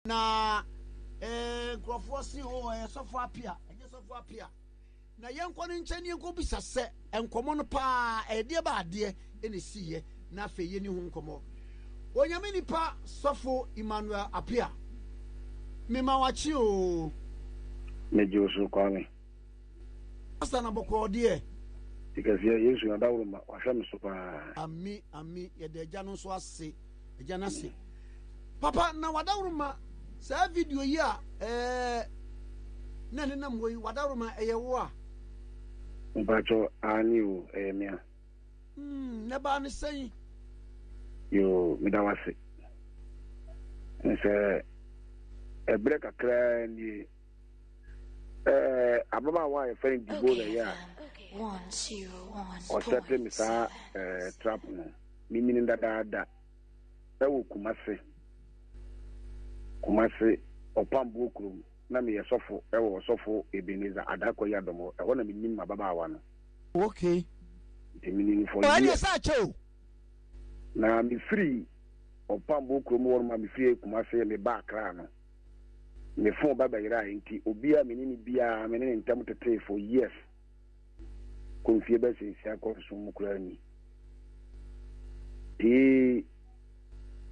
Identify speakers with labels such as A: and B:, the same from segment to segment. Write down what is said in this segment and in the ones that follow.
A: Na eh, nkurɔfoɔ se o ɛyɛ sɔfo apia, ɛnyɛ sɔfo apia. Na yɛnkɔ ne nkyɛn ne yɛnkɔ bisa sɛ nkɔmmɔ no paa ɛdeɛ ba adeɛ ɛna ɛsiiɛ na afei yɛni ho nkɔmmɔ. Onyame nipa sɔfo Emmanuel Apia, mema wakye o. Megye
B: wo so Kwame.
A: Pastor na bɔkɔɔ deɛ. Ti kɛseɛ,
B: Yesu Adaworoma, wahwɛ me so paa. Ami, ami,
A: yɛda Agya no nso ase. Agya no ase. Papa na w'adaworoma saa video yi a ɛɛ na ɛne nam hɔ yi w'adaworoma ɛyɛ wo a.
B: Mpatsɔ aane o ɛyɛ me a. Hmm
A: na ɛbaa ne sɛn. Yoo
B: meda w'ase. Nsɛ ɛbrɛ kakraa nie ɛɛ ababaawa a yɛfɛ no Deborah yɛ a ɔsɛte me saa ɛɛ trap no. Menyin dadaada wɔ Kumase, Kumase Ɔpamboɔ kurom, na meyɛ sɔfo wɔ Ɔsɔfo Ebenezer Adah Kwayi adom hɔ, ɛhɔ na menim m'ababaawa no. Okay.
A: Nti
B: menim for years. Ɔyɛ deɛ saa kyɛ o.
A: Na
B: mefiri Ɔpamboɔ kurom hɔ nom a mefiri Kumase meba Accra no, me phone ba bɛyerae nti obiara a mene no biara mene no ntam tetee for years. kɔ mfie bɛsɛ nsia kɔ nson mu koraa ni. Pii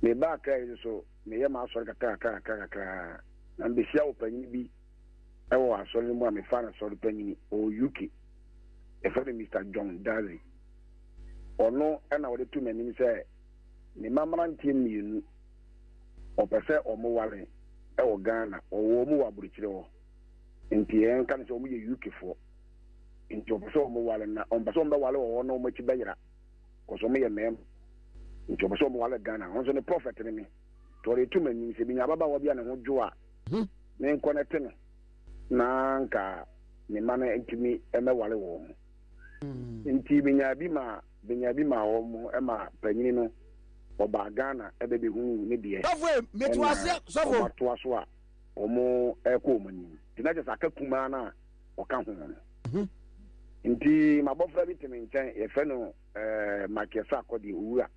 B: meba Accra yi nso meyɛ m'asɔre kakrakra kakrakra na mebehyia wɔ panyin bi ɛwɔ asɔre no mu a mefa no sɔre panyin ɔwɔ UK ɛfɛ no Mr John Dazi ɔno ɛna ɔde to m'anim sɛ ne ma mmeranteɛ mmienu ɔpɛ sɛ ɔmo ware ɛwɔ Ghana ɔwɔ ɔmo wɔ aburukyire hɔ. nti yɛnka no sɛ wɔn yɛ UK foɔ nti wɔpɛ sɛ wɔn wale na wɔn pɛ sɛ wɔn bɛ wale wɔ hɔ na wɔn akyi bɛ yera kɔsɛ wɔn yɛ mɛɛm nti wɔpɛ sɛ wɔn wale Ghana wɔn nso ne prɔfɛt ne me tɔɔre etu ma nim sɛ bi nya ababaawa bi a ne ho dwo a hmm. ne nkɔ ne te no na nka ne ma no ntumi mɛ wale wɔn ho hmm. nti bi nya bi ma bi nya bi ma wɔn mo ɛma panyini no ɔbaa Ghana ɛbɛ bɛ hu ne deɛ ɛna
A: wɔn atoa so a.
B: wɔrekɔ wɔn anim nti na kyerɛ sɛ aka kumaa no a ɔka ho no mhm. nti mabɔfra bi te me nkyɛn yɛfrɛ no eh, makiɛsɛ akɔdeɛ owura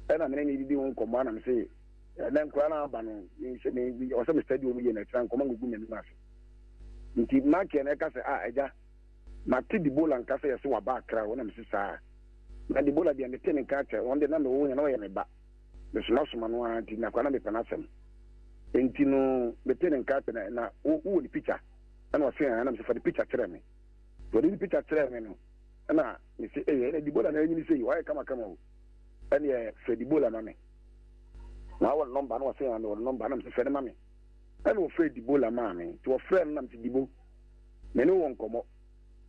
B: ɛna mene ne didi ho nkɔmmɔ anam se na nkora no aba no ɔsɛ mestadi ɔm yɛ no atira nkɔmmɔ ngugu m'anim ase nti makiɛ no ɛka sɛ a ah, agya mate dibola nka sɛ yɛse waba akra hɔ na mese saa na dibola deɛ mete ne nka kyɛ ɔn de na mewɔ hɛ na ɔyɛ me ba mesomasoma no ara nti na koraa na mepɛ n'asɛm. Enti no, metee ne nka sɛ na, na wo, wowɔ ne pikya. Ɛna ɔse, Ɛɛ, na mese, Fa ne pikya kyerɛ me. Nti ɔde ne pikya kyerɛɛ me no, ɛna mese, Ei, ɛna Debola na anyini sei, wayɛ kamakama o. Ɛneɛ frɛ Debola ma me. Na wowɔ ne nɔmba? Na ɔse, Aa, mewɔ ne nɔmba. Ɛna mese, Frɛ no ma me. Ɛna ɔfrɛɛ Debola maa me. Nti ɔfrɛɛ no na mese, Debo, me ne wo wɔ nkɔmmɔ.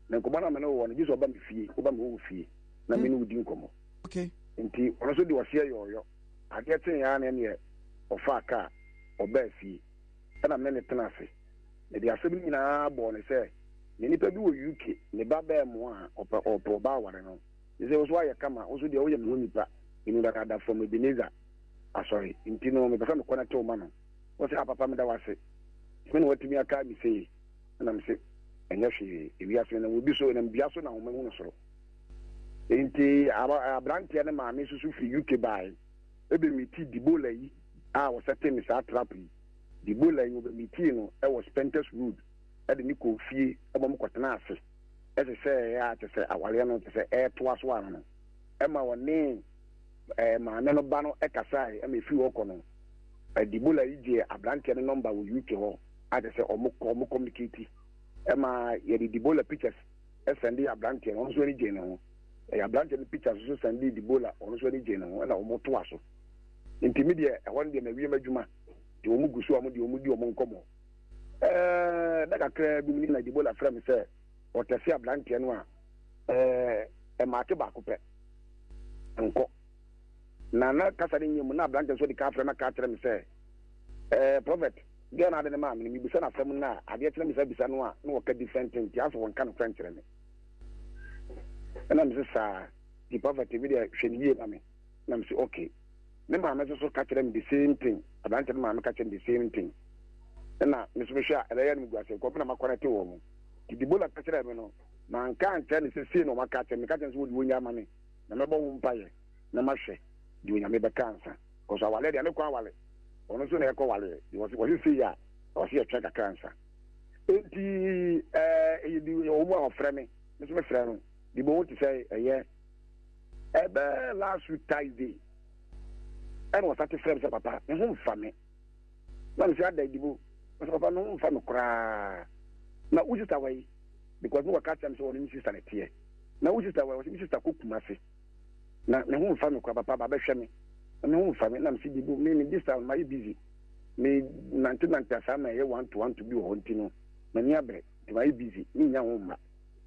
B: Na nkɔmmɔ no a me ne wo wɔ no, gye sɛ ɔba me fie, woba me wɔ wo fie, na me ne wo di nkɔmmɔ. okay. nti
A: ɔno nso de
B: ɔseɛ yɔɔyɔ adeɛ kyeeɛ ara na ɛneɛ ɔfaa kaa ɔbaa fie ɛna me ne tena ase mede asɛm nyinaa bɔɔ ne sɛ me nipa bi wɔ UK ne ba bɛɛ mo a ɔpɛ ɔpɛ ɔbaa ware no ne sɛ woso ayɛ kama woso deɛ woyɛ me ho nipa ɛnu dadaada from Ebenezer asɔre nti no mepɛ sɛ mekɔ no tew ma no wɔsɛ apapa ah, meda wase me na watumi aka me sei ɛna me se ɛnyɛ hwee ewiase na wɔdi so ɛnam dua so na ahoma hu no soro Enti aberanteɛ no maame nso so firi UK baeɛ. Ɔbɛmitii Debola yi a ɔsɛtee no saa trap yi. Debola yi, ɔbɛmitii no wɔ Spenters Road de no kɔɔ fie ma wɔkɔtenaa ase hyehyɛeɛ a kyerɛ sɛ awareɛ no kyerɛ sɛ ɛretoa so ara no, ɛma ɔne maame no ba no kasaeɛ. Ɛma ɛfiri hɔ kɔ no, Debola yi gyee aberanteɛ no nɔmba wɔ UK hɔ a kyerɛ sɛ wɔkɔmmunikati. Ɛma yɛde Debola pictures sɛn de yɛ aberanteɛ no ɔno nso ani gyee ne ho ɛyɛ aberanteɛ no pictures nso sɛn de dibola ɔno nso ani gyee ne ho ɛna wɔn toa so nti mi deɛ ɛhɔ no deɛ mɛ wiem adwuma nti wɔn gu so a wɔn deɛ wɔn di wɔn nkɔmɔ ɛɛ na kakra bi mu ni na dibola frɛ mi sɛ ɔtɛsi aberanteɛ no a ɛɛ ɛmaate baako pɛ nkɔ na na kasa ne nyɛ mu na aberanteɛ nso de ka afrɛ na ka akyerɛ mi sɛ ɛɛ prɔfɛt. Dɛn na ade no maa me no? Mibisa no asɛm no a, adeɛ kye na mesan bisa no a, na ɔka different thing nti asɛ ɔnka nokorɛ nkyerɛ me. Ɛna mese saa nti Prophet me deɛ hwɛ no yie ma me. Ɛna mese ok. Me maame nso so ka kyerɛɛ me the same thing, aberanteɛ no maame ka kyerɛɛ no the same thing. Ɛna me nso mehwɛ a ɛbɛyɛ a na megu ase, nkurɔfo na makɔnɛte wɔn. Nti Debola ka kyerɛɛ me no, manka ankyerɛ no sɛ sei na wɔaka akyerɛ me, meka kyerɛɛ no sɛ wɔde wɔn nya ma me na mɛbɔ ho mpaeɛ. na mahwɛ deɛ Onyame bɛka ansa cause awaleɛ deɛ ne kɔ awale ɔno nso na ɛkɔ waleɛ deɛ wɔse wɔse sei a ɔse yɛtwɛn kakra ansa enti ɛɛ ɛyɛ bi yɛ wɔn a wɔfrɛ me me nso mefrɛ no de bɔ wɔn te sɛ ɛyɛ ɛbɛ last week Thursday ɛna wɔsa te frɛ me sɛ papa ne ho mfa me na me sɛ ada adibo wɔsɛ papa ne ho mfa me koraa na wo sista wɔ yi because ne wɔka kyerɛ me sɛ wɔne me sista ne teɛ na wo sista wɔ yi wɔsɛ me sista kɔ kuma se Na me ho nfa me koraa papa ba bɛhwɛ me na me ho nfa me na mese bibo me me this time mayɛ busy me nante nante asaa na ɛyɛ one to one to bi wɔ hɔ nti no m'ani abrɛ nti mayɛ busy me nnya ho mma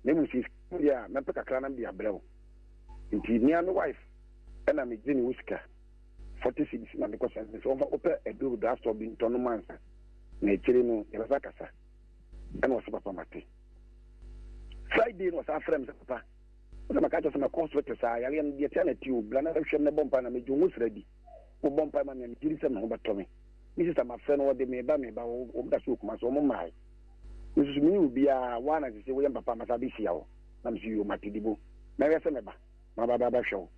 B: na emu sɛ sika deɛ a mɛpɛ kakra na mede abrɛ wo nti mea me wife ɛna me gye ne wo sika forty cedis na mekɔ sɛ sɛ wɔfa wopɛ aduro drug store bi ntɔ no mansa na akyire no yɛbɛsa kasa ɛna ɔsɛ papa mate Friday na ɔsan frɛ me sɛ papa Wo na maka akyerɛ sɛ mɛkɔ hospital te saa, yareɛ no deɛ tia na ti o, bra na bɛhwɛ me, mɛbɔ mpae na mɛgye wo ho sra bi. Wo bɔ mpae ma me a, me gyedi sɛ me ho bɛtɔ me. Me sista mafrɛ no, ɔde, meba, meba, wɔ, wɔn da so wɔ Kumasi, wɔn mmae. Me nso so me ne obiara, wo a na sese woyɛ me papa, masa abɛhyia wo. Na me so yoo, mate dibo. Mɛhwɛ sɛ mɛba, maba ba bɛhwɛ wo.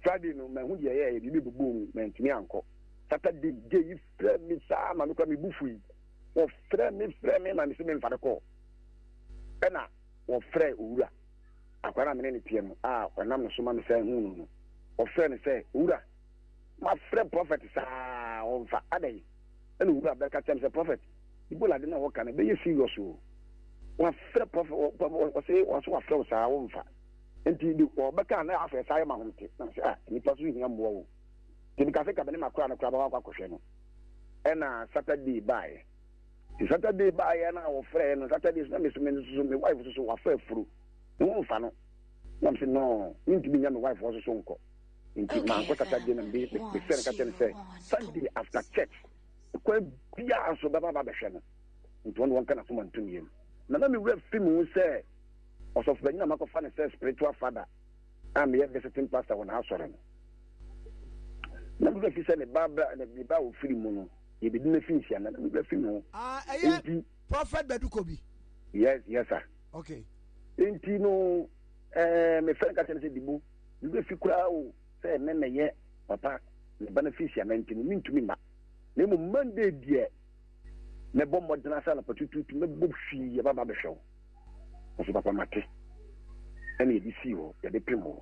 B: Friday no, manhu deɛ ɛyɛ, ɛyɛ biribi bobɔɔ mu, mantumi ankɔ. Saturday, gay yi frɛɛ me saa ma me koraa me bo fui. Wɔfrɛɛ me, frɛɛ me ma me se memfa no kɔɔ. Ɛna wɔfrɛɛ Owura. Akwaa no a me ne no teɛ no, a ɔnam ne so ma mesan huu no no, ɔfrɛɛ no sɛ, Owura, mafrɛ Prɔfɛt saa a, ɔmfa. Adɛn? Ɛnna Owura bɛka kyerɛɛ me sɛ, Prɔfɛt, Ebola ade no a wɔka no, ɛbɛyɛ serious o. Wɔafrɛ Prɔfɛt, ɔse, ɔse wɔafrɛ wo saa a, womfa. Enti de wɔbɛka a, na afei ɛsan yɛ m'ahomete. Na mese, Ah, nnipa nso hia mmoa o. Enti mekaa sɛ, Ka me ne m'akwaa no koraa ma wɔakɔ akɔhwɛ no. Ɛnna Saturday baeɛ. Nti Saturday baeɛ no a wɔfrɛɛ no Saturday so na me so me nso so me wife so so wafa afuru. Ne ho mfa no. Na me se no mentumi nya me wife hɔ so so nkɔ. Nti mankɔ Saturday na me me frɛ no ka kyerɛ no sɛ Sunday after church kwan biara so bɛba ba bɛhwɛ no. Nti wɔn wɔnka n'asoma ntom yam. Na na me wura fi mu sɛ ɔsɔfo panyin a makɔfa no sɛ spiritual father a meyɛ visiting pastor wɔ n'asɔre no. Na me wura fi sɛ ne ba ne ba ofiri mu no. yɛbɛdi no afi nhyia na mebɛ fi no ɛyɛ
A: prophet bɛdu kɔ bi yes yes
B: sir okay
A: nti no
B: ɛɛ me fɛn ka kyɛn sɛ dibo mebɛ fi koraa o sɛ ɛnɛ na yɛ papa ne ba no fi nhyia na nti no mentumi ma na mmom monday deɛ mɛbɔ mmɔden asa anapa tututu mɛbɔ hwii yɛba ba bɛhwɛ wo nso papa mate ɛne yɛde sii hɔ yɛde pem hɔ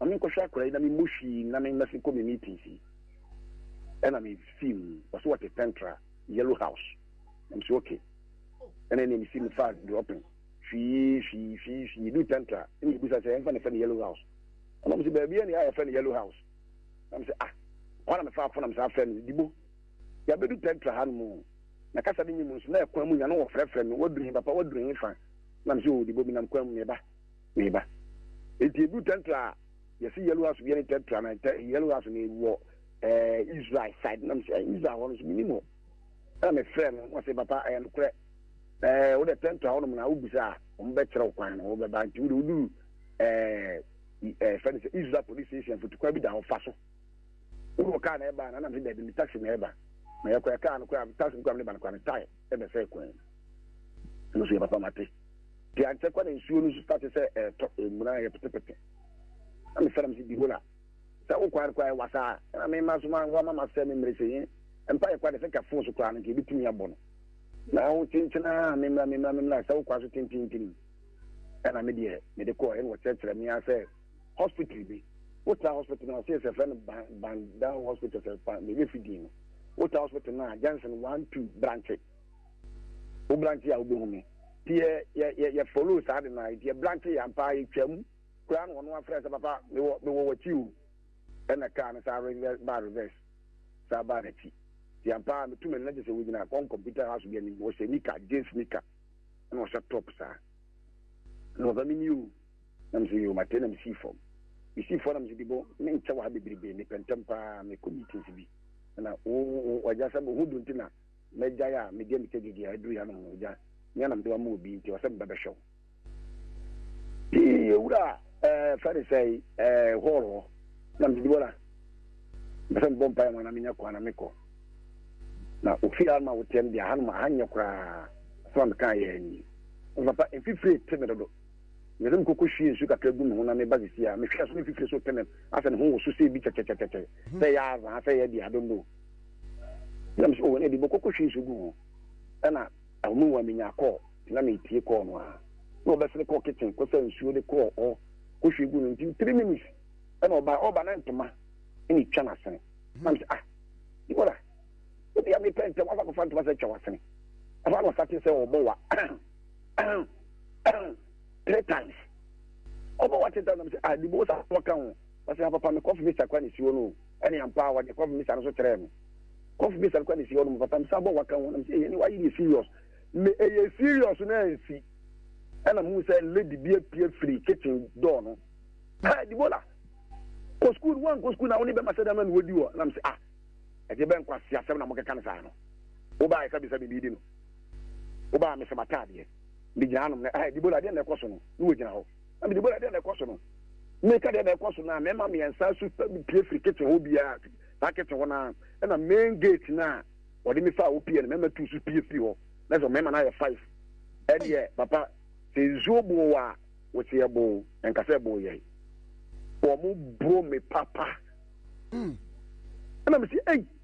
B: ma me nkɔhwɛ akora yi na me mmɔ hwii nna me mmɛse kɔ me meetings yi. Ɛna me fii mu, ɔse wɔte Pentra, yellow house. Na me se okay. Ɛna ɛne me si me faa dropping, hwii, hwii, hwii, hwii, yɛduu Pentra, ɛne me bisa sɛ ɛmfa na ɛfɛ no yellow house. Ɛna ɔmo se baabi ɛne a yɛfɛ no yellow house. Na me se ah, hɔ na me faa fo na me san frɛ no, Dibo, yɛabedu Pentra ha nom oo, na kasa no nye mu nso, na ɛkwan mu nya no wɔfrɛfrɛ me, waduru he papa, waduru he fa? Na me se oo, Dibo, me nam kwan mu, me ba. Me ba, enti edu tɛntra a yɛse yellow house bia ne tɛntra na tɛ yellow house no wɔ ɛɛ eh, israel side nam sɛ eh, israel hɔ no so menim hɔ ɛna mefrɛ no wɔse papa ɛyɛ nokorɛ ɛɛ eh, wodɛ tɛntra hɔ nom na wobisa a wɔn bɛkyerɛ wo kwan no wobɛba nti wode woduru ɛɛ ɛɛ fɛ no sɛ israel police station fotukwan bi da hɔ fa so wode wɔ kaa na ɛba na nam sɛ dabi ne taxi na ɛba na yɛkɔ ɛkaa no koraa taxi no koraa ne ba no koraa ne tae ɛna sɛ kwan mu ɛno so yɛ papa mate te ankyɛ kwa na nsuo no so start sɛ ɛtɔ ɛmuna yɛ petepete na me fɛrɛ m si bihola sɛ wo kwan kwa ɛwa saa ɛna me ma so ma nwa ma ma sɛ me mmere sɛ yɛn mpa yɛ kwa de sɛ ka fon so koraa no nka ebitumi abɔ no na wo tenkyena me mmra me mmra me mmra sɛ wo kwa so tintintin ɛna me deɛ me de kɔɔ ɛna wɔkyerɛkyerɛ me asɛ hospital bi wotra hospital no ɔsɛ sɛ fɛ no bandao hospital sɛ pa na ɛbɛfi din no wotra hospital no a junction one two branche wo branche a wobɛhu me nti yɛ follow saa de no a nti yɛ branche yɛ ampa yɛtwam koraa na ɔno afrɛ sɛ papa mewɔ wakyi o ɛna kaa no saa ba reverse saa baa n'akyi nti ampa metu me nna gye sɛ wogyina kɔn computer house bi anim wɔhyɛ nika jeans nika na ɔhyɛ top saa na ɔsɛ me ni o Na me nso yoo m'atade na mesii fam. Mesii fam na me nso Debo, me nkyɛ wɔ ha bebrebe, mepɛ ntɛm pa ara, merekɔ meetings bi. Ɛna wo, wo, w'agya sɛ wo ho dwo nti na magyae a medi amita gyegye a aduru hanom no, w'agya, nea na mede wo ama wɔ bi nti ɔsɛ mebɛbɛhwɛ wo. Pii, owura, ɛɛ, fɛ ne sɛe, ɛɛ, hɔɔl hɔ. Na me nso Debo, na mepɛ sɛ mebɔ mpaeɛ ma wo na menya kwan na mekɔ. Na ofie hanom a woteɛ no deɛ, hanom, ha nyɛ koraa, asɛm a mekaeɛ ara nie. Nanso papa, mfifire te me dodo, Mede me koko hwiee nsu kakra gu me ho na meba sisi a, mehwɛ a so me fifire so tene asɛ ne ho wɔ so sei bi kyɛkyɛkyɛkyɛ sɛ ɛyɛ azaa sɛ ɛyɛ deɛ I don't know. Ɛna me sɛ oh ɛna ɛde bɔkɔkɔ hwie nsu gu ho. Ɛna ahome mu a menya call nti na metie call no ara na ɔbɛsere kɔɔ kitchen kɔsa nsuo de kɔɔ hɔ kɔhwie gu no nti three minutes ɛna ɔba ɔba na ntoma ɛna ɛtwa no asene na me sɛ ah Deborah ebi a mepɛ ntɛm afa kɔfa ntoma sɛ atwa w'asene afa na ɔsate sɛ ɔbɔ wa Ahem, ahem, three times. Ɔbɔ wa teta nam sɛ, ah, di bo sa wɔ ka ho. Ɔsɛ ha papa me kɔfi misa kwa ne si hɔ no. Ɛne ampa a wɔde kɔfi misa no so kyerɛɛ no. Kɔfi misa no kwa ne si hɔ no papa me sa bɔ wa ka ho nam sɛ ɛyɛ ne wa yɛ serious. Me ɛyɛ serious no ansi. Ɛna mu sɛ lady bi apue firi kitchen door no. Hey, di bo la. Kɔ school no, wankɔ school na wo ne bɛma sɛ dama ne wɔdi wɔ. Nam sɛ, ah, ɛde bɛn kwa si asɛm na mokeka no saa no. Wo ba ɛsa bisa me biribi no. Woba a, mese m'ataadeɛ. Megyina hanom na, ah, Debola, deɛn na ɛkɔ so no? Na wɔgyina hɔ. Na me, Debola, deɛn na ɛkɔ so no? Meka deɛn na ɛkɔ so no a, mmarima mmiɛnsa so pie firi kitchen hɔ biara, saa kitchen hɔ no ara, ɛna main gate no a wɔde me faa hɔ pie no, mmarima tu so pie firi hɔ. Na sɛ mmarima no ayɛ five. Ɛdeɛ, papa, sɛ nsuo boo a, woseɛ boo, ɛnka sɛ ɛboo yɛn. Wɔn boro me papa. Mm. Ɛna mese, ei!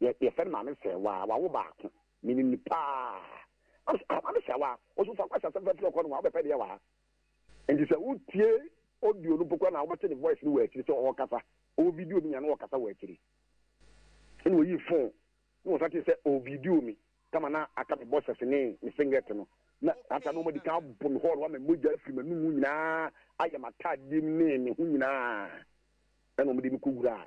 B: Yɛ, yɛfrɛ no Maame Sɛɛwaa, wawo baako. Menim no paa. Ɔse, ah, Maame Sɛɛwaa, ɔse, Osuafo Kwasi Asɛmfaa firi ɔkɔ no ho a, wobɛpɛ deɛ wɔ ha. Nti sɛ wotie audio no mpo koraa na wobɛte ne voice no wɔ akyiri sɛ ɔɔkasa. Ɔwɔ video no nyinaa na ɔɔkasa wɔ akyiri. Ɛna ɔyii phone na wɔsan tee sɛ ɔɔvideo me kama na aka me boxers ne me singlet no. Na saa ta no wɔadi kan abɔ me hɔ no, wama mogya afiri m'anom nyinaa ayɛ m'ataadeɛ mu ne me ho nyinaa. Ɛna wɔde me kɔwuraa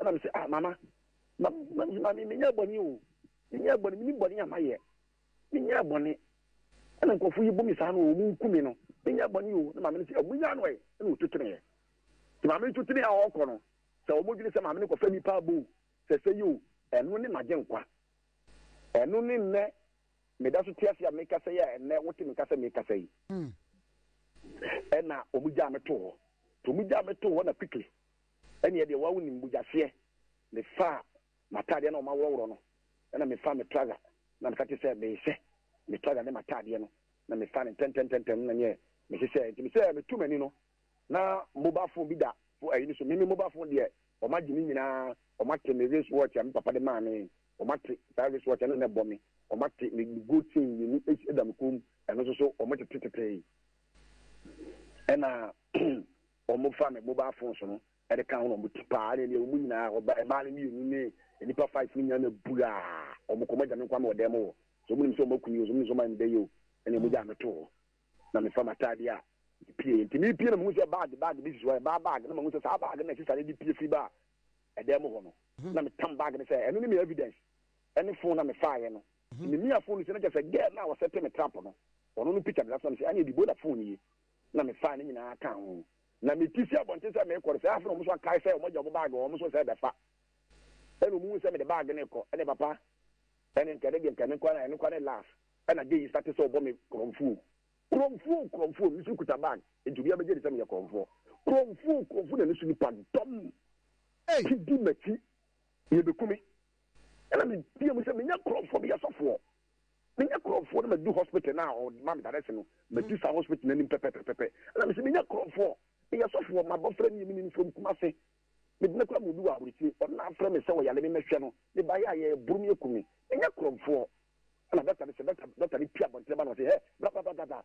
B: Ɛna me se, ah mama, ma, ma, ma me, menyɛɛ bɔne o, menyɛɛ bɔne, menim bɔne a mayɛ, menyɛɛ bɔne, ɛna nkurɔfo yi bu me saa no o, wɔnku me no, menyɛɛ bɔne o, na maame no se, ah munyaa no ɛ, ɛna ɔtu teneeɛ. Nti maame no tu tenee a ɔrekɔ no, sɛ wɔn dwene sɛ maame no kɔfa nipa abɔ o, sɛ sɛ yi o, ɛno ne magye nkwa. Ɛno ne nnɛ meda so te ase a mekasa yi a ɛnnɛ wote me nka sɛ mekasa yi. Mm. Ɛna wɔn gyaa me too hɔ, nti wɔn gyaa me too hɔ na quickly. Ɛnneɛ deɛ wawo nim bogyaseɛ. Mefaa m'ataadeɛ na wɔaworɔworɔ no, ɛnna mefaa me trouser na meka kyerɛɛ sɛ meresɛ me trouser ne m'ataadeɛ no, na mefaa no ntɛmntɛmntɛmntɛm no na neɛ mesesɛɛ. Enti mesɛ meto m'ani no, na mobile phone bi da fo ayi no so. Me me mobile phone deɛ, wɔagye ne nyinaa, wɔate me wrist watch a me papa de maa me, wɔate saa wrist watch a na na ɛbɔ me, wɔate me me gold chain mmienu da me kɔn mu, ɛno nso so wɔtetetetee. Ɛnna. Wɔfa me mobile phones no de ka ho na wɔn ti paa na wɔn nyinaa wɔba mmaa no mmienu ne nnipa five no nyinaa na buraa wɔn kɔn wɔagya me nko ara me wɔ dan mu hɔ so wɔn nim sɛ wɔn aku me o so wɔn nim sɛ wɔn ayɛ me dɛ yɛ o ɛna wɔn gyaa me too hɔ na mefa m'ataade a mepie nti mepie na mehu sɛ bag bag bi sisi hɔ ɛbaa bag na mehu sɛ saa bag na sisa no de pie firi baa ɛdan mu hɔ no na metam bag no sɛ ɛno ne me evidence ɛne phone na mefaeɛ no memia phone no sɛ no kyɛ sɛ girl no a wɔsɛ te me trap no ɔno no picture de na sɛ me sɛ ɛne ɛdi bola phone yi na mefaa ne nyinaa kaa ho, na metu fii abɔnten sɛ merekɔ no, saa afe no wɔn nso akae sɛ wɔagya wɔn bag wɔ wɔn so sɛ ɛbɛfa. Ɛnna wɔhuu sɛ mede bag no rekɔ, ɛnna papa, ɛnne nka ɛno deɛ nka me nko ara na ɛno nko ara ne laugh, ɛnna Gay starte sɛ ɔbɔ me korɔmfoo. Korɔmfoo, korɔmfoo, me nso kuta bag, enti obiara bɛgye adi sɛ meyɛ korɔmfoɔ. Korɔmfoo, korɔmfoo, na ne so nnipa dɔm te di m'akyi, yɛbɛku me. Ɛnna meteaam sɛ, Menyɛ korɔmfoɔ, meyɛ sɔfoɔ. Menya krɔnfoɔ na madu hospital na ɔma me darɛse no, madu saa hospital n'anim pɛpɛpɛpɛpɛ. Ɛna mese menya krɔnfoɔ, meyɛ sɔfoɔ, m'abɔfra nie, menim from Kumase. Mede no kora mo bi wɔ aburokyire, ɔno na afrɛ me sɛ ɔyare me mɛhwɛ no, meba yɛ a yɛboro me aku me. Menya krɔnfoɔ. Ɛna dɔkta no sɛ, dɔkta, dɔkta no pie abɔntene ba na ɔse, hɛ, brababababa,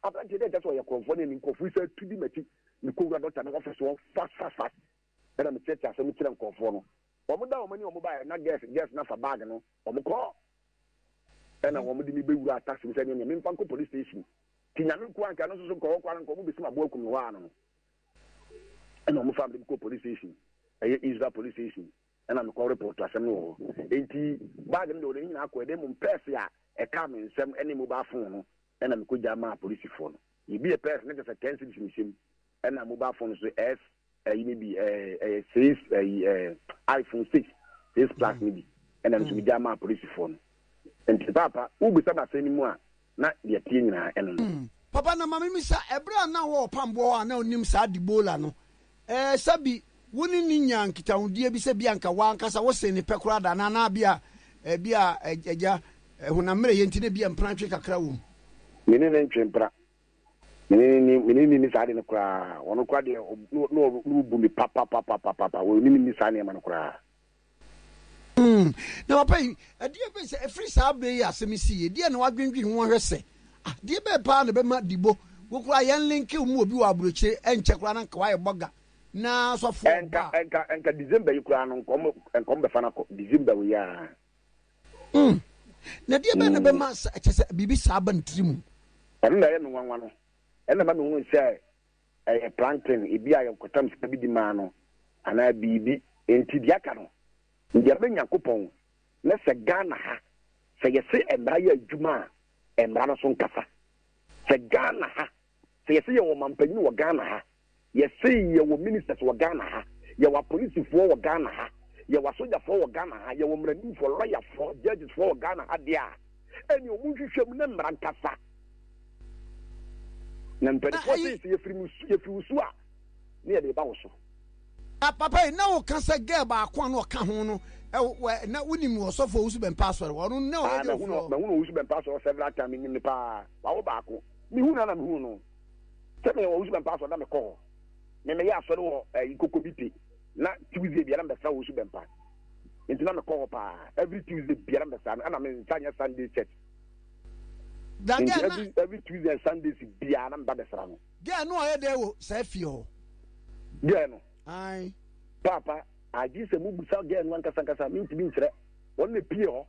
B: aberanteɛ dɛ nkyɛ sɛ ɔyɛ krɔnfoɔ ne ɛni nkorɔfoɔ yi saa tu di m'akyi. Mekɔwura dɔkta no office hɔ fast fast fast. ɛna me kyerɛkyerɛ asɛm kyerɛ nkorɔfoɔ no wɔn da wɔn ani wɔn baeɛ na girls girls no afa bag no wɔn kɔ ɛna wɔn de me bɛ wura taxi mu sɛ ɛnyɛ me nfa nkɔ police station ti nyame nko anka no soso nkɔwɔ kɔ ara nkɔ wɔn bɛ si ma bo akum no hɔ ano no ɛna wɔn fa me kɔ police station ɛyɛ Israel police station ɛna me kɔ report asɛm no wɔ hɔ eti bag no de wɔn nyinaa kɔ ɛdɛm mu pɛɛsi a ɛka me nsɛm ɛne mobile phone no ɛna me kɔ gya maa polisifoɔ no ebi yɛ pɛɛsi ne kyɛ sɛ ten cities ne hyɛm ɛna mobile phone so ɛs ɛyi ne bi ɛɛ ɛyɛ six ɛyi ɛɛ iphone six six plus ne bi ɛna nso bi gya maa polisifoɔ no nti paapa wubisa ma asɛm no mu a na deɛ tie nyinaa ɛno no. Hmm. papa na maame mi sa
A: ɛberɛ a na wɔ ɔpamboɔ hɔ a na onim saa debola no ɛɛ sɛbi wo ne ne nyaa nkitahodie bi sɛ bi anka wankasa wo sen ne pɛ koraa da na na bi a ɛbi a ɛgya honam mmerɛyɛ nti na bi a mprantwe kakra wɔ mu. me ne ne ntwe
B: mpra Mene mene mene nni saa ade no koraa. Wɔn koraa deɛ na wɔbu me papapapapapa. Wɔn ne me nni saa nneɛma no koraa. Hmm,
A: na papa yi, ɛdeɛ bɛn sɛ ɛfiri saa berɛ yi asɛm yi si yɛ, deɛ na wadwendwen ho ahwɛ sɛ, ah, deɛ bɛn paa na bɛma dibo, wo koraa yɛn linke mu obi wɔ aburokyire, ɛnkyɛ koraa na nka wayɛ bɔga, na sɔfoɔ ba. Ɛnka, ɛnka, ɛnka December yi
B: koraa no, nkɔm, nkɔm bɛfa no akɔ, December wei aa. Mm.
A: Na deɛ bɛn na mm. bɛma sɛ ɛkyɛ sɛ biribi saa ba ne tiri mu? Ɛno na ɛyɛ me
B: nwanwa no. Ɛna ma mehunu sɛ ɛyɛ plantain ebi a yɛnkɔtam sika bi de maa no anaa biribi. Enti deɛ aka no, deɛ bɛ Nyankopɔn na sɛ Ghana ha, sɛ yɛse mmara yɛ adwuma a, mmara no so nkasa. Sɛ Ghana ha Sɛ yɛse yɛwɔ mampanyin wɔ Ghana ha, yɛse yɛwɔ ministers wɔ Ghana ha, yɛwɔ apolisifoɔ wɔ Ghana ha, yɛwɔ asogyafoɔ wɔ Ghana ha, yɛwɔ mmaranimfoɔ, lɔyafoɔ, judgesfoɔ wɔ Ghana ha deɛ a, ɛneɛ wɔn nhwehwɛ mu na mmara nkasa. Na mpanifoɔ se sɛ yɛfiri mo su, yɛfiri wo su a, ne yɛde ba wo so. Ah papa yi
A: na wo ka sɛ girl baako a na ɔka ho no wɔ na wo nim ɔsɔfo owusu bɛmpa asɔre ɔno na ɔyɛ de ɔfrɛ ɔ. Mahunu owusu
B: bɛmpa asɔre several time nim ne paa wawo baako. Mehuu no a na mehuu no sɛ meyɛ wɔ Owusu Bɛmpa asɔre na mekɔ hɔ. Me meyɛ asɔre wɔ eh, Ikoko bi pe na Tuesday biara mbɛsra Owusu Bɛmpa. Nti na mekɔ hɔ paa every Tuesday biara mbɛsra no ɛna me nsa nyɛ Sunday church. Da Nti every every Tuesday and Sundays biara na meba bɛsra no. Girl no ɔyɛ dɛ wɔ
A: saa fie hɔ. Girl no.
B: Ae.
A: Paapa,
B: agye sɛ mubusa girl no ankasa ankasa, mentumi nkyerɛ. Ɔno na epie hɔ.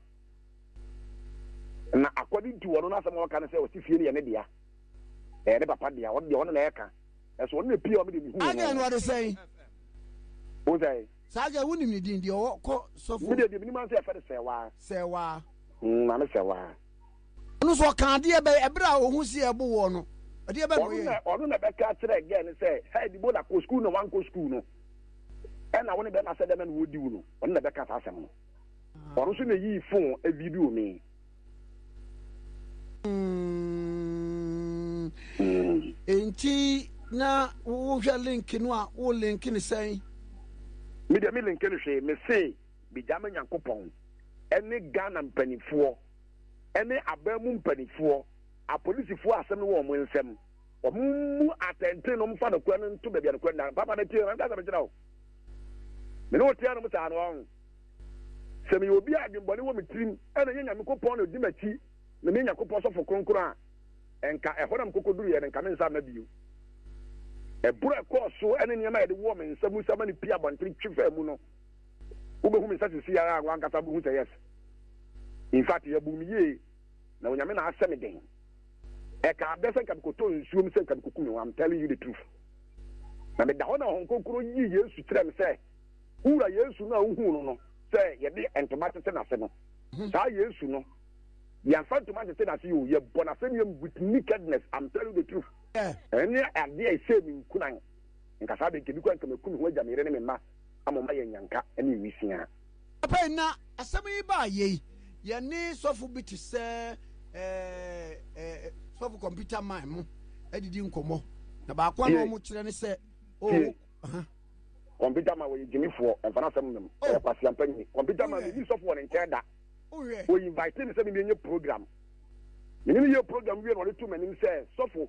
B: Na akɔde nti wɔno no asɛm a ɔka no sɛ ɔsi fie no yɛ ne dea. Ɛyɛ ne papa dea. Ɔno deɛ ɔno na ɛka. Ɛso ɔno na ɛpie ɔme deɛ mehuu no. Adeɛ no ɔde sɛn? Wo sɛn? Saa deɛ wonim ne din
A: deɛ ɔwɔ kɔ sɔfo. Me deɛ deɛ menim ansa yɛfɛ no
B: sɛwaa. Sɛwaa. Mm, maame sɛwaa. Ɔno so
A: ɔka adeɛ bɛyɛ ɛberɛ a ɔhu si ɛbo wɔ no. Adeɛ bɛ na ɔyɛ. Ɔno na ɔno na bɛka kyerɛ
B: gɛɛ no sɛ hɛ dibo na kɔ sukuu na wankɔ sukuu no. Ɛna wo ne bɛma sɛ dɛmɛ na wɔdi wo no. Ɔno na bɛka saa asɛm no. Ɔno nso na yii fon video me. Nti
A: na wohwɛ link no a wo link no sɛn? Me
B: deɛ me link no hwee me se megya me Nyankopɔn ɛne Ghana mpanimfoɔ ɛne aban mu mpanimfoɔ apolisifoɔ asɛm no wɔ wɔn nsam. Ɔmo mmu atɛnten na ɔmo fa nokorɛ no nto baabi a nokorɛ nna. Papa na tie, manka sɛ mekyerɛ wo. Me ne wo tea nom saa no, ɔho. Sɛ meyɛ obi a adwenbɔne wɔ me tirim ɛna ɛnyɛ Nyamekopɔn na odi m'akyi na meyɛ Nyakopɔn sɔfo kronkron a, ɛnka ɛhɔ na mekɔkɔduruiɛ no nka me nsa mma bio. Ɛboro a ɛkɔɔ so ɛne nneɛma a yɛde wɔɔ me nsa mu samani pii abɔntene twe faa mu no, wobɛhu me nsa sisi ara a, wankasa wobɛhu sɛ yes. In fact, yɛbuu me yie. na Onyame na ahyɛ me den. Ɛkaa dɛ sɛ nka mekɔtɔ nsuo mu sɛ nka mekɔku me ho, I'm telling you the truth. Na meda hɔ na Honhom Kronkron yii Yesu kyerɛɛ me sɛ, wo wura Yesu no a wohuu no no sɛ yɛde ntoma tete n'ase no, hmm. saa Yesu no, yɛmfa ntoma ntete n'ase yɛ o, yɛbɔ n'asɛm yam with nakedness, I'm telling you the truth. Ɛne adeɛ a ɛhyɛɛ me nkunan. Nka saa de, nka ebi koraa nka maku me ho agya me yere ne me mma ama ɔma yɛn nyanka ne nwisiaa. Afei na
A: asɛm yi baa yei, yɛne sɔfo bi te sɛ sɔfo kɔmputa man mo adidi nkɔmmɔ, na baako a na wɔn kyerɛ ne sɛ, oh, kɔmputa man wɔyɛ gyimifoɔ, ɛmfa no asɛm mmam, ɛyɛ kwasea mpanyin. Kɔmputa man mimi sɔfo wɔ ne nkyɛn da, wɔyi invite ne sɛ mimi enye program, mene meyɛ program wie na ɔde to m'anim sɛ sɔfo.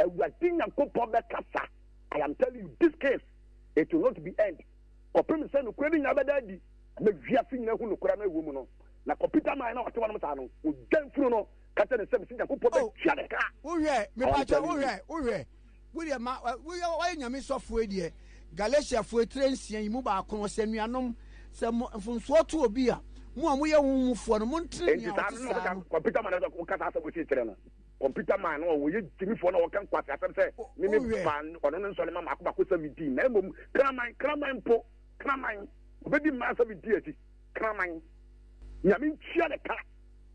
A: Awurade Nyankopɔn bɛkasa, I am telling you this case, it will not be end kɔpem sɛ nokorɛ no nyinaa bɛda adi, ama wiase nyinaa ahu nokorɛ no a ɛwɔ mu no. Na kɔ Peter man na ɔte hɔnom saa no, ogya mfunu no ka kyerɛ ne nsam sɛ Nyankopɔn oh, bɛtua ne ka. Wohwɛ, mepakyɛ wohwɛ, wohwɛ, wodeɛ ma, woyɛ nyame sɔfoɔ deɛ, Galatiafoɔ tire nsia yi mu baako no, sɛ nuanom, sɛ mo mfonsoɔ to obi a, mo a moyɛ wo mufoɔ no, montene nea ɔte saa no. Kɔ Peter man na
B: ɔka saa asɛm ɔsi kyerɛ no. Computer man no a wɔyɛ gyimifoɔ na wɔka nkwaseasɛm sɛ me me ba ɔno no nsɔre ma mako mako sɛ medii na mmom kraman kraman mpo kraman ɔbɛdi mmaa sɛ medii akyi kraman nyame ntua ne ka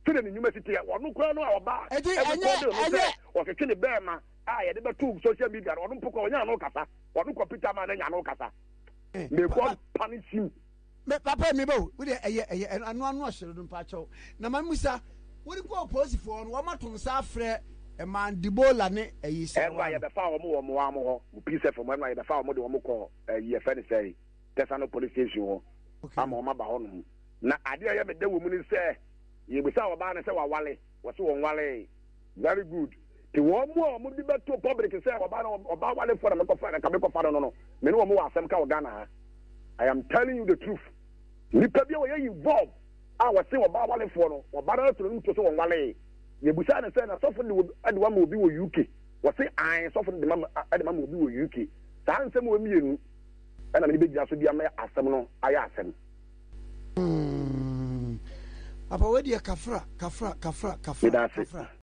B: sɛdeɛ ne nnwuma si teɛ ɔno koraa no a ɔbaa ɛrekɔde ɔno sɛ ɔtwetwe ne bɛɛma a yɛde bɛto social media no ɔno mpo kora ɔnya ano kasa ɔno computer man no anya ano kasa may God punish you Me papa mi
A: bɛ o, wo deɛ ɛyɛ ɛyɛ ɛno ano ɔhyere no mpakyɛw. Na ma mmusa, wode kɔ oposifoɔ no, wɔn ato nsa afrɛ ɛmaa Dibola ne ɛyi sɛ ɛno a yɛbɛfa wɔn wɔ
B: mmoa wɔn hɔ, mo PSF mo, ɛno a yɛbɛfa wɔn de wɔn kɔ ɛyi yɛfɛ ne sɛe, Tesano police station hɔ ama wɔn aba hɔ nom. Na adeɛ a ɛyɛ me dɛ wɔ mu ne sɛ, yɛbusa ɔbaa no sɛ wawale. Wɔse wɔnwaree. Very good. Te wɔn mu a wɔde bɛto public sɛ ɔbaa no ɔbaa warefoɔ na mekɔfa na nka mekɔfa no no no me ne wɔn wɔ asɛm ka wɔ Ghana ha. I am telling you the truth. Nipa bi a ɔyɛ involve a wɔse ɔbaa warefoɔ no ɔbaa no to n'anim to sɛ wɔnwaree. Yɛbusaa no sɛ na sɔfo no de wo ama obi wɔ UK? Wɔse ae sɔfo no de me ama obi wɔ UK. Saa nsɛm wei mmienu na me de bɛgyina so de ama asɛm no ayɛ asɛm.
A: Papa wei deɛ kafra kafra kafra kafra kafra.